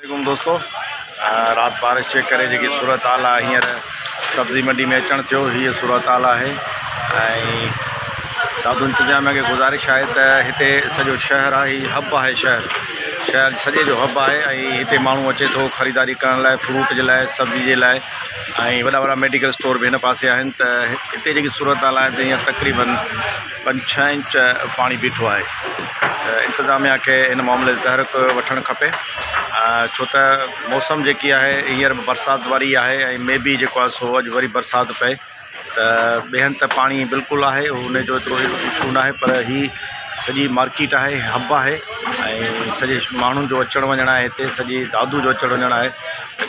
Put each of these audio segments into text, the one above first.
عليڪم دوستو رات بارش جي ڪري جيڪي صورتحال آهي هينئر سبزي منڊي ۾ اچڻ ٿيو هي صورتحال آهي ۽ دادو انتظاميا کي گذارش آهي ته هتي سڄو شهر آهي هي هب آهي شهر شهر سڄي جو هب آهي ۽ هتي ماڻهو اچي ٿو خريداري ڪرڻ لاء فروٽ جي لاء سبزي جي لاء ۽ وڏا وڏا ميڊيڪل اسٽور به هن پاسي آهن ته هتي جيڪي صورتحال آهي ته هينئر تقريبن پنج ڇهه انچ پاڻي بيٺو آهي ته انتظاميا کي ان معاملي تي تحرڪ وٺڻ کپي ڇو ته موسم جيڪي آهي هينئر به برسات واري آهي ۽ مي بي جيڪو آهي سو اڄ وري برسات پئي ته ٻئي هنڌ ته پاڻي بلڪل آهي ان جو ايترو اشو ناهي پر هي سڄي مارڪيٽ آهي هب آهي ۽ سڄي ماڻهن جو اچڻ وڃڻ آهي هتي سڄي دادو جو اچڻ وڃڻ آهي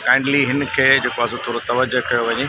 ڪائنڊلي هن کي جيڪو آهي سو ٿورو توجه ڪيو وڃي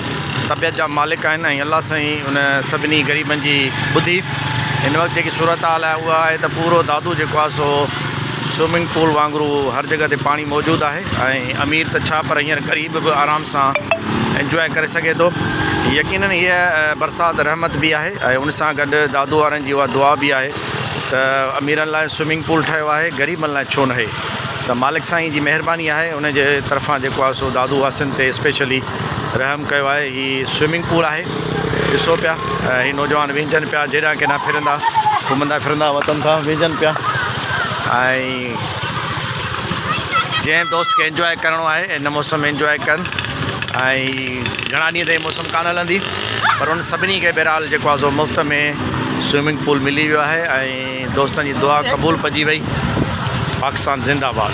طبيعت جا مالڪ آهن ۽ الله سائين ان سڀني غريبن جي ٻڌي هن وقت جيڪي صورتحال آهي اها آهي ته پورو دادو جيڪو آهي سو سوئمنگ پول وانگرو هر جڳهه تي پاڻي موجود آهي ۽ امير ته ڇا پر هينئر غريب به آرام سان انجواء ڪري سگهي ٿو يقينن هيء برسات رحمت به آهي ۽ ان سان گڏ دادو وارن جي اها دعا به آهي ته اميرن لاء سوئمنگ پول ٺهيو آهي غريبن لاء ڇو ناهي ته مالڪ سائين جي مهرباني آهي ان جي طرفان جيڪو آهي سو دادو واسين تي اسپيشلي رحم ڪيو آهي هي سوئمنگ پول آهي ڏسو پيا هي نوجوان وينجهن پيا جهيڙيا ڪينا ڦرندا گهمندا ڦرندا وتن تان وينجهن پيا ۽ جنهن دوست کي انجوائي ڪرڻو آهي ان موسم انجوائي ڪن ۽ گهڻا ڏينهن تائين موسم ڪانه هلندي پر ان سڀني کي بهرحال جيڪو آزو مفت ۾ سوئمنگ پول ملي ويو آهي ۽ ۽ دوستن جي دعا قبول پجي وئي پاڪستان زنده باد.